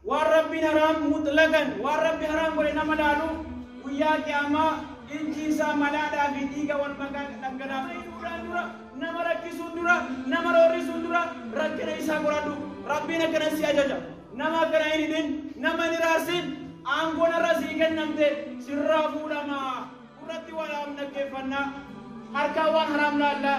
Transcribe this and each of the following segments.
Waan Rabbiin haraam mutlaqan waan Rabbi haraam godhe nama laalu guyyaa qiyaamaa ijji isaa malaadhaa fi dhiiga wal makaa dhangalaafamuu irraan dura nama rakkisuun dura nama roorrisuun dura rakkina isaa qoradhu Rabbiin akkana si ajaja nama akkana hin hidhin nama hin hiraarsin aangoon irra sii kennamte sirraa fuudhama gurratti waan haraam dhaggeeffannaa harkaa waan haraam laallaa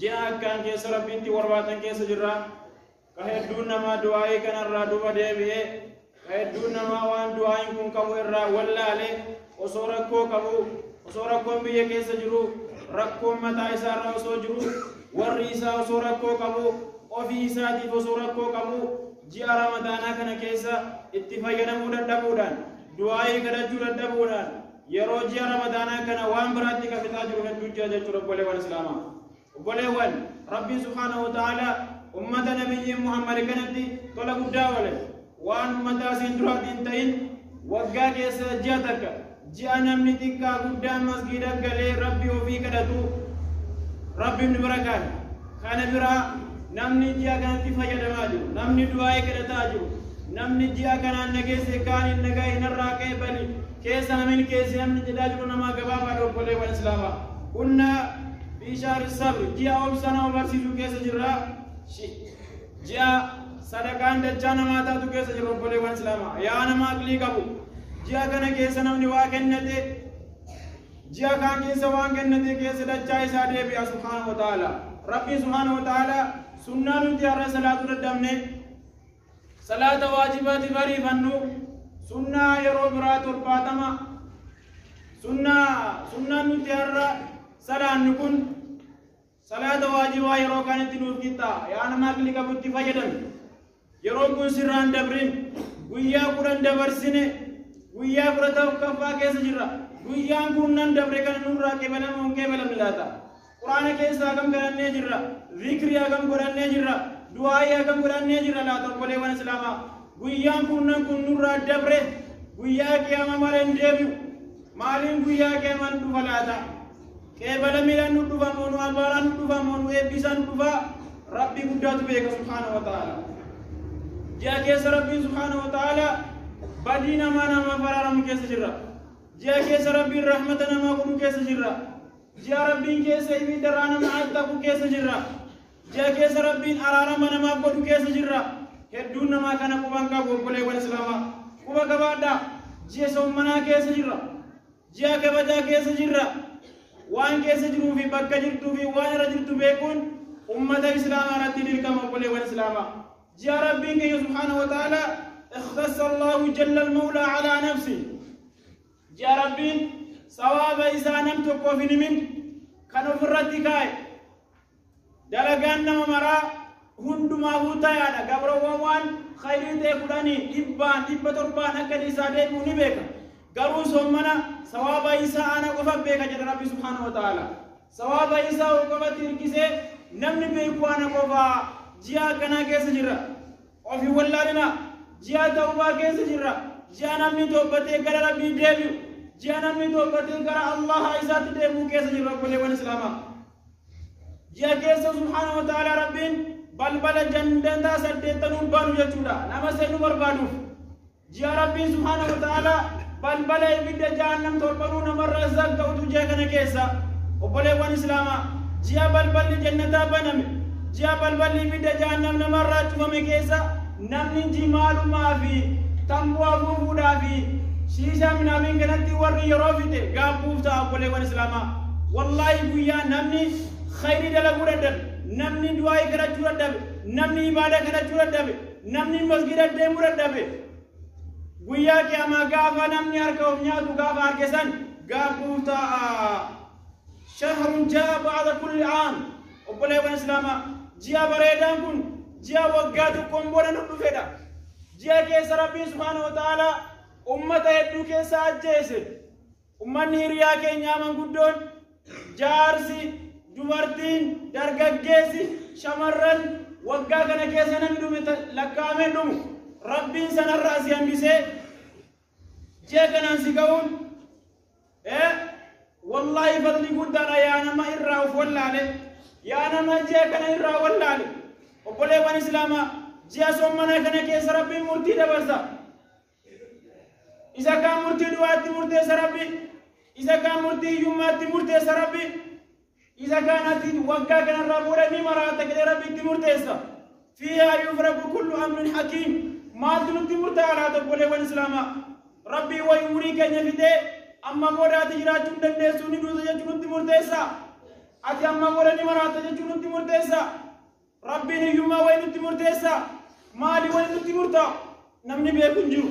Ji'a akkaan keessa Rabbiitti warwaatan keessa jirra. Ka hedduun namaa du'aa'ii kanarraa duba deebi'e. Ka hedduun namaa waan du'aa'iin kun qabu irraa wallaale osoo rakkoo qabu osoo rakkoon biyya keessa jiru rakkoon mataa isaarra osoo jiru warri isaa osoo rakkoo qabu ofii isaatiif osoo rakkoo qabu ji'a ramadaanaa kana keessa itti fayyadamuu dadhabuudhaan du'aa'ii kadhachuu dadhabuudhaan Yeroo ji'a Ramadaanaa kana waan biraatti kan fixaa jiru hedduu jira jechuudha obboleewwan Islaamaa. Obboleewwan Rabbiin Subhaanahu wa Ta'aalaa ummata nabiyyi Muhammad kanatti tola guddaa oole waan ummataa siin duraatti hin ta'in waggaa keessa ji'a takka ji'a namni xiqqaa guddaan masgiida galee rabbi ofii kadhatu rabbiin bira kaa'e. Kana bira namni ji'a kanatti fayyadamaa jiru, namni du'aa'ii kadhataa jiru, namni ji'a kanaan na geesse kaaniin na ga'e narraa ka'e bani keessa namin keessi namni jedhaa jiru namaa gabaabaa dha obboleewwan Islaamaa. Kunna biishaar sabri ji'a obsa nama barsiisu keessa jirra. Ji'a sadaqaan dachaa namaa taatu keessa jirra obboleewwan Islaamaa. Yaa nama aqlii qabu. Ji'a kana keessa namni waa kennate Ji'a kaan keessa waan kennate keessa dachaa isaa deebi'a subhaanahu wa ta'ala. Rabbiin subhaanahu wa ta'ala sunnaa nuti har'a salaatuu dadhabne salaata waajibaatiif ariifannu sunnaa yeroo biraa torbaatama sunnaa sunnaan nuti har'a salaannu kun Salaata waajibaa yeroo kanitti nuuf qixxaa yaa namaa kilika butti fayyadame yeroon kun sirraan dabrin guyyaa kudhan dabarsine guyyaa kudha tokkoffaa keessa jirra guyyaan kun nan dabre kan nurraa qeebalamu hin qeebalamne laata quraana keessa hagam galannee jirra zikri hagam godhannee jirra du'aa'ii hagam godhannee jirra laata obboleewwan islaamaa guyyaan kun nan kun nurraa dabre guyyaa qiyaamaa malee hin deebi'u maaliin guyyaa qiyaamaan dhufa laata Qeebala miila nu dhufa moo nu abaaraa nu dhufa moo nu eebbisaa nu dhufa rabbii guddaatu beeka subhaana wa ta'ala. Ji'a keessa rabbiin subhaana wa ta'ala badii namaa namaa faraaramu keessa jirra. Ji'a keessa rabbiin rahmata namaa godhu keessa jirra. Ji'a rabbiin keessa ibidda irraa nama attaqu keessa jirra. Ji'a keessa rabbiin araarama namaa godhu keessa jirra. Hedduun namaa kana quban qabu obboleewwan islaamaa. Quba qabaadhaa ji'a sommanaa keessa jirra. Ji'a kabajaa keessa jirra. Waan keessa jiruu fi bakka jirtuu fi waan irra jirtu beekuun ummata Islaamaa irratti dirqama obboleewwan Islaamaa. Ji'a Rabbiin keenya subhaanahu wa ta'ala ikhtassa Allahu jalla al-mawla ala nafsi. Ji'a Rabbiin sawaaba isaa nam tokkoof hin himin kan ofirratti kaa'e. Dalagaan nama maraa hundumaafuu tayaadha. Gabroowwan waan khayrii ta'e fudhanii dhibbaan, dhibba torbaan akka inni isaa deebi'u ni beeka. Garuu sommana sawaaba isaa ana qofa beeka jedha Rabbi subhaanahu wa ta'aala. Sawaaba isaa ol qofatti hirkisee namni beeku ana qofa ji'a akkanaa keessa jirra. Ofii wallaalina ji'a ta'ubaa keessa jirra. Ji'a namni toobbatee gara Rabbii deebi'u. Ji'a namni toobbatee gara Allaha isaatti deebi'u keessa jirra obboleewwan Islaamaa. ji'a keessa subhaanahu wa ta'ala rabbiin balbala jannataa saddeettanuu banu jechuudha nama seenuu barbaaduuf ji'a rabbiin subhaanahu wa ta'ala balbala ibidda jahannam torbanuu namarraa zagga'utu ji'a kana keessa obboleewwan islaamaa ji'a balballi jannataa baname ji'a balballi ibidda jahannam namarraa cufame keessa Namni jimaalumaa fi tamboo afuufuudhaa fi shiishaa minaamin kanatti warri yeroo fite gaabbuuf ta'a obboleewwan islaamaa. Wallaahi guyyaa namni khayrii dalaguu dadhabe, namni du'aa'ii kadhachuu dadhabe, namni ibaada kadhachuu dadhabe, namni masgida deemuu dadhabe. Guyyaa qiyaamaa gaafa namni harka of nyaatu gaafa arge san gaabbuuf ta'a. shahrun jaa ba'ada kulli aam obboleewwan islaamaa ji'a bareedaan kun ji'a waggaa tokkoon booda nu dhufedha ji'a keessa rabbiin subhaanahu wa ta'aalaa ummata hedduu keessa ajjeese ummanni hiriyaa keenyaa manguddoon jaarsi dubartiin dargaggeessi shamarran waggaa kana keessa namni dhume lakkaa'amee dhumu rabbiin sanarraa si hambisee Ji'a kanaan si ga'uun ee wallaahi fadli guddaadha yaa nama irraa of wallaale yaa nama ji'a kana irraa wallaale obboleewwan islaamaa ji'a soommanaa kana keessa rabbiin murtii dabarsa isa kaan murtii du'aatti murteessa rabbi isa kaan murtii hiyyummaatti murteessa rabbi Isa kaan atiin waggaa kanarraa booda ni maraata jedhee Rabbi itti murteessa. Fiihaa yufraku kullu amrin hakiim. Maaltu nutti murtaa'a laata obboleewwan Islaamaa? Rabbii wayi umurii keenya fixee amma booda ati jiraachuu hin dandeessu ni duuta jechuu nutti murteessa. Ati amma booda ni maraata jechuu nutti murteessa. Rabbiin hiyyummaa wayi nutti murteessa. Maali wayi nutti murtaa'a? Namni beeku hin jiru.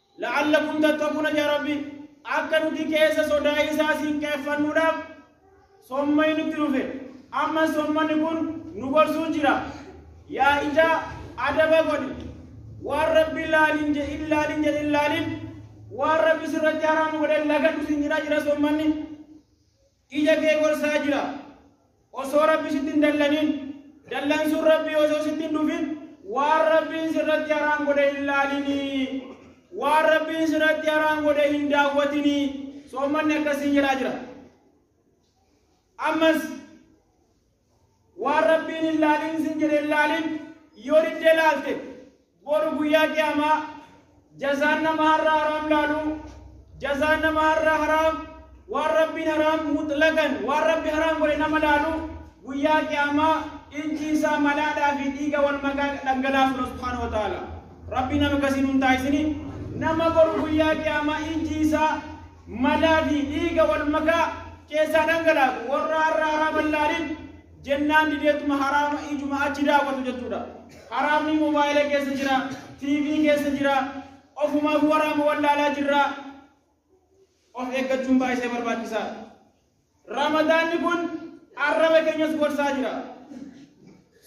La'allakum tattaquuna yaa Rabbi akka nuti keessa sodaa isaa siin qeeffannuudhaaf sommani nutti dhufe amma sommani kun nu gorsuu jira yaa ijaa adaba godhi waan rabbi laalin jedhin laalin jedhin laalin waan rabbi sirratti haraama godhe lagadhu siin jedhaa jira sommanni Ija kee gorsaa jira. Osoo Rabbi sitti hin dallanin, dallansuun Rabbi osoo sitti hin dhufin, waan Rabbiin sirratti haraam godhe hin laalinii. Waan Rabbiin sirratti haraam godhe hin daawwatinii. Soommanni akkasiin jedhaa jira. Ammas Waan Rabbiin hin laalin sin jedhe hin laalin yoo diddee laalte boru guyyaa qiyaamaa jazaan nama har'a haraam laalu jazaan nama har'a haraam waan Rabbiin haraam mutlaqan waan Rabbi haraam godhe nama laalu guyyaa qiyaamaa ijji isaa malaadhaa fi dhiiga wal makaa dhangalaasu dha subhaanahu wa ta'ala. Rabbi nama akkasii nun taasisini nama boru guyyaa qiyaamaa ijji isaa malaa fi dhiiga wal makaa keessaa dhangalaasu warra har'a haraama hin laalin jennaan dideetuma haraama ijuma achi daawwatu jechuudha. Haraamni mobaayila keessa jira, TV keessa jira, ofumaaf waraama wallaalaa jirra. Of eeggachuun baay'isee barbaachisaadha. Ramadaanni kun arraba keenyas gorsaa jira.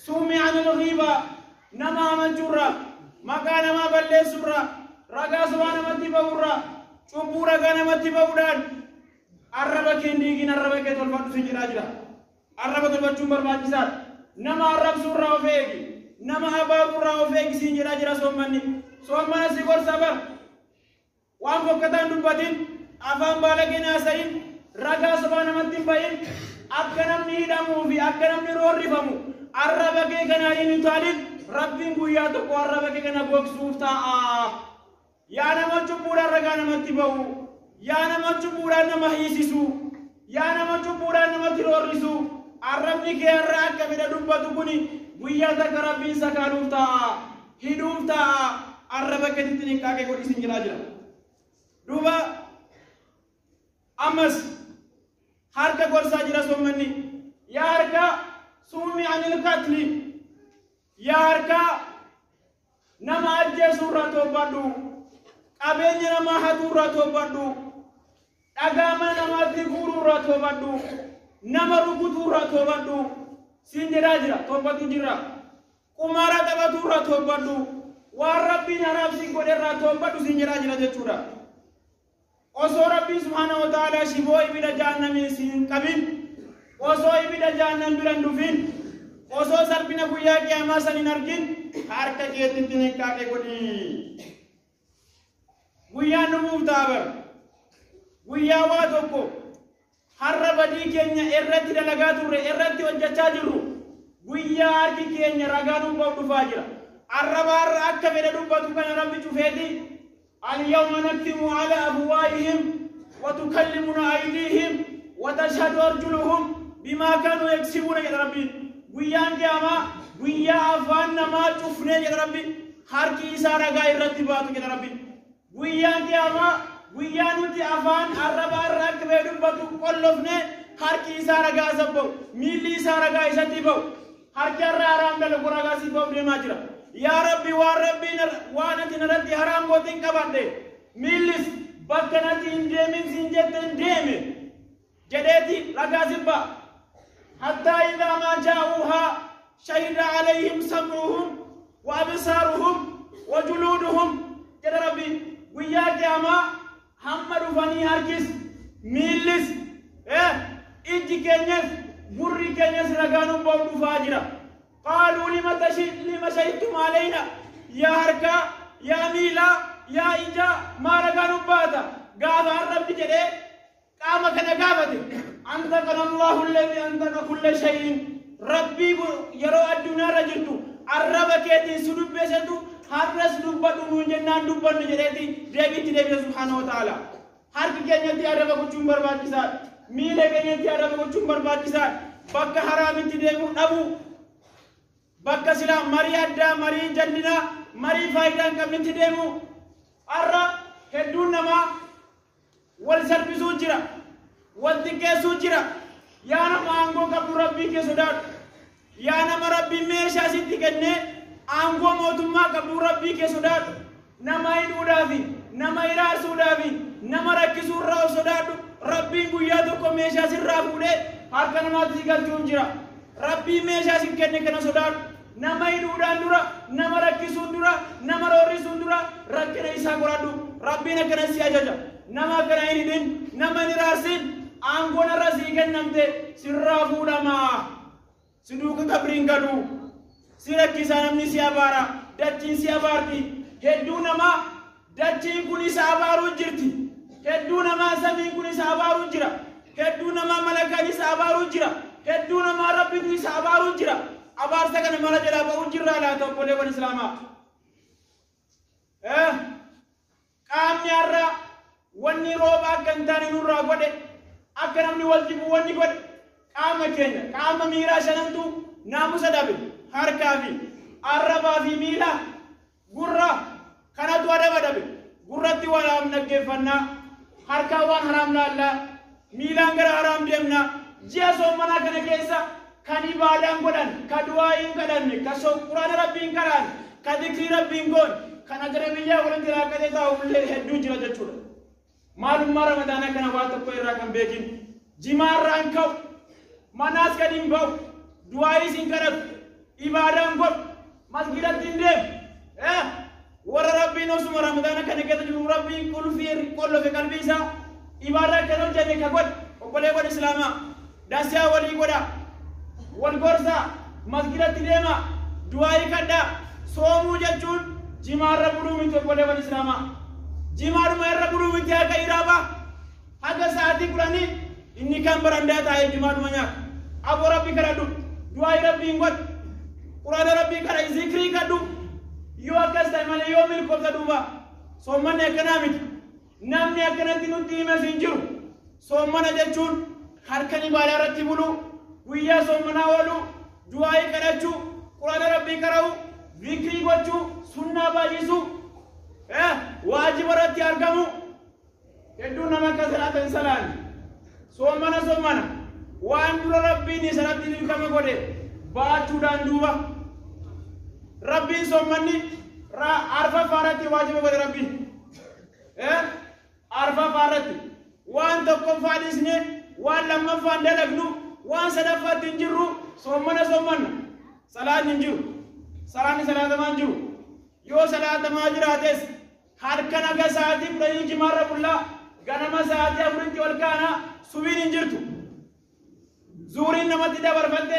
Suumii anil ghiibaa nama hamachuurra, maqaa namaa balleessuurra, ragaa sobaa namatti ba'uurra, cubbuu ragaa namatti ba'uudhaan arraba kee hin diigin arraba kee tolfadhu si jedhaa jira. Arraba tolfachuun barbaachisaadha. Nama arrabsuurraa of eegi. Nama abaaruurraa of eegi siin jedhaa jira soommanni. Soommana si gorsa bar. Waan fokkataa hin dubbatin, afaan baalagee hin haasayin, ragaa sobaa namatti hin bayin, akka namni hidhamuu fi akka namni roorrifamu arraba kee kanaa hin utaalin, Rabbiin guyyaa tokko arraba kee kana gogsuuf taa'a. Yaa nama cubbuudhaan ragaa namatti ba'u, yaa nama cubbuudhaan nama hiisisu, Yaa nama cubbuudhaan namatti roorrisu, arrabni kee har'a akka fedha dubbatu kuni guyyaa takka Rabbiin sakaaluuf taa'a, hidhuuf taa'a, arraba keetitti xinqaaqee godhi sin jedhaa jira. Duuba ammas harka gorsaa jira sommanni. Yaa harka suumi anil katli. Yaa harkaa nama ajjeesuu irraa toobadhu. Qabeenya namaa hatuu irraa toobadhu. Dhagaa mana namaatti guuruu irraa toobadhu. Nama rukutuu irraa toobadhu. Siin jedhaa jira toobatu jira. Qumaara taphatuu irraa toobadhu. Waan rabbiin haraamsiin godhe irraa toobadhu siin jedhaa jira jechuudha. Osoo Rabbiin subhaanahu wa ta'aalaa shiboo ibida jahannamii si hin qabin, osoo ibida jahannam bira hin dhufin, osoo salphina guyyaa qiyaamaa san hin argin, ka harka keetitti niqqaaqe godhi. Guyyaan dhufuuf taabar. Guyyaa waa tokko Har'a badii keenya irratti dalagaa turre, irratti hojjachaa jirru, guyyaa harki keenya ragaa nuuf bahu dhufaa jira. Arraba har'a akka fedhe dubbatu kana Rabbi cufeeti, Al-yawma nakhtimu ala afwaahihim wa tukallimuna aydiihim wa tashhadu arjuluhum bimaa kaanuu yaksibuuna jedha Rabbiin. Guyyaan Qiyaamaa guyyaa afaan namaa cufnee jedha Rabbi, harki isaa ragaa irratti baatu jedha Rabbiin. Guyyaan qiyaamaa guyyaa nuti afaan arraba irra akka ba'e dubbatu qollofne harki isaa ragaa isa ba'u miilli isaa ragaa isatti ba'u harki irra haraam dalagu ragaa si ba'u deemaa jira. Yaa Rabbi waan Rabbiin waan ati narratti haraam gootiin qabadhe miillis bakka natti hin deemin siin jetteen deeme. jedheeti ragaa jibba hattaa idaa maa jaa'uuhaa shahida alayhim sam'uhum wa absaaruhum wa juluuduhum jedha rabbi guyyaa qiyaamaa hamma dhufanii harkis miillis eh, ijji keenyas gurri keenyas ragaa nu ba'u dhufaa jira qaaluu lima tashi lima shahidtum alayna yaa harkaa yaa miilaa yaa ijaa maa ragaa nu baata gaafa har'abbi jedhee qaama kana gaafate antaqana allahu alladhi antaqa kulla shay'in rabbii kun yeroo addunyaarra jirtu arraba keetiin si dubbesetu har'as dubbadhu nuun jennaan dubbannu jedheeti deebiitti deebise subhaanahu wa ta'ala harki keenyatti arraba gochuun barbaachisaadha miila keenyatti arraba gochuun barbaachisaadha bakka haraamitti deemuu dhabuu bakka silaa marii addaa marii jallinaa marii faayidaa hin qabnetti deemuu har'a hedduun namaa Wal salphisuu jira. Wal xiqqeessuu jira. Yaa nama aangoo qabdu Rabbii kee sodaadhu. Yaa nama Rabbiin meeshaa sitti kennee aangoo mootummaa qabdu Rabbii kee sodaadhu. Nama hidhuudhaa fi nama hiraarsuudhaa fi nama rakkisuu irraa of sodaadhu. Rabbiin guyyaa tokko meeshaa sirraa fuudhee harka namaatti si galchuun jira. Rabbiin meeshaa si kenne kana sodaadhu. Nama hidhuudhaan dura, nama rakkisuun dura, nama roorrisuun dura rakkina isaa qoradhu. Rabbiin akkana si ajaja. Nama akkana hin hidhin, nama hin hiraarsin. Aangoon irra sii kennamte sirraa fuudhama. Si duuka qabriin galu. Si rakkisaa namni si abaara. Dachiin si abaarti. Hedduu namaa Dachiin kun isa abaaruu jirti. Hedduu namaa samiin kun isa abaaruu jira. Hedduu namaa malakaan isa abaaruu jira. Hedduu namaa rabbitu isa abaaruu jira. Abaarsa kana mara jalaa ba'uu jirraa laata obboleewwan Islaamaa. Eh, Qaamni har'a wanni rooba akka hin taane nurraa godhe akka namni wal jibu wanni godhe qaama keenya qaama miiraa shanantu naamusa dhabe harkaa fi arrabaa fi miilaa Gurra kanatu adaba dhabe. Gurratti waan haraam dhaggeeffannaa. Harkaan waan haraam laallaa. Miilaan gara haraam deemna. Ji'a soomanaa kana keessa kan ibaadaan godhan, ka du'aa hin kadhanne, ka quraana rabbii hin qaraan, ka dikrii rabbii hin goon, kan ajnabiyyaa walitti raaqatee taa'u illee hedduu jira jechuudha. Maalummaa Ramadaanaa kana waa tokko irraa kan beekin jimaarraa hin ka'u, manaas gad hin ba'u, du'aayiis hin kadhatu, ibaadaa hin godhu, masgiidatti hin deemu. Eh, Warra Rabbiin osuma Ramadaana kana keessa jiru Rabbiin qulfii qollofe qalbii isaa ibaadaa kan hojjete ka godhe obboleewwan Islaamaa Nasiyaa walii godhaa. Wal gorsaa. Masgidatti deemaa. Du'aa'ii kadhaa. Soomuu jechuun jimaa irra buluu miti obboleewwan Islaamaa. Jimaadhuma irra buluu miti haga iraabaa. Haga sa'aatii kudhanii inni kan barandaa taa'ee jimaadhuma nyaata. Aboo rabbi kadhadhu. Du'aa'ii rabbiin godhu. Quraana rabbii kadha zikrii kadhu. Yoo akkas ta'e malee yoo milkoofta duuba. Soommanni akkanaa miti. Namni akkanatti nutti himes hin jiru. Soommana jechuun halkan ibaadaa irratti buluu, guyyaa soommanaa ooluu, du'aa'ii kadhachuu, quraana rabbii qara'uu, zikrii gochuu, sunnaa baay'isuu, eh, waajiba irratti argamuu. Hedduun nama akka salaata hin salaanne. Soommana soommana waan dura rabbiin isaratti dirqama godhe baachuudhaan duuba rabbiin soommanni arfaffaa irratti waajiba godhe rabbiin. arfaffaa irratti waan tokkoffaa dhiisne waan lammaffaan dalagnu waan sadaffaatti hin jirru soommana soommanna salaanni hin jiru salaanni salaatamaa hin jiru yoo salaatamaa jiraates halkan akka sa'aatii kudhanii jimaarra bullaa ganama sa'aatii afuritti ol kaana subiin hin jirtu zuuriin namatti dabarfatte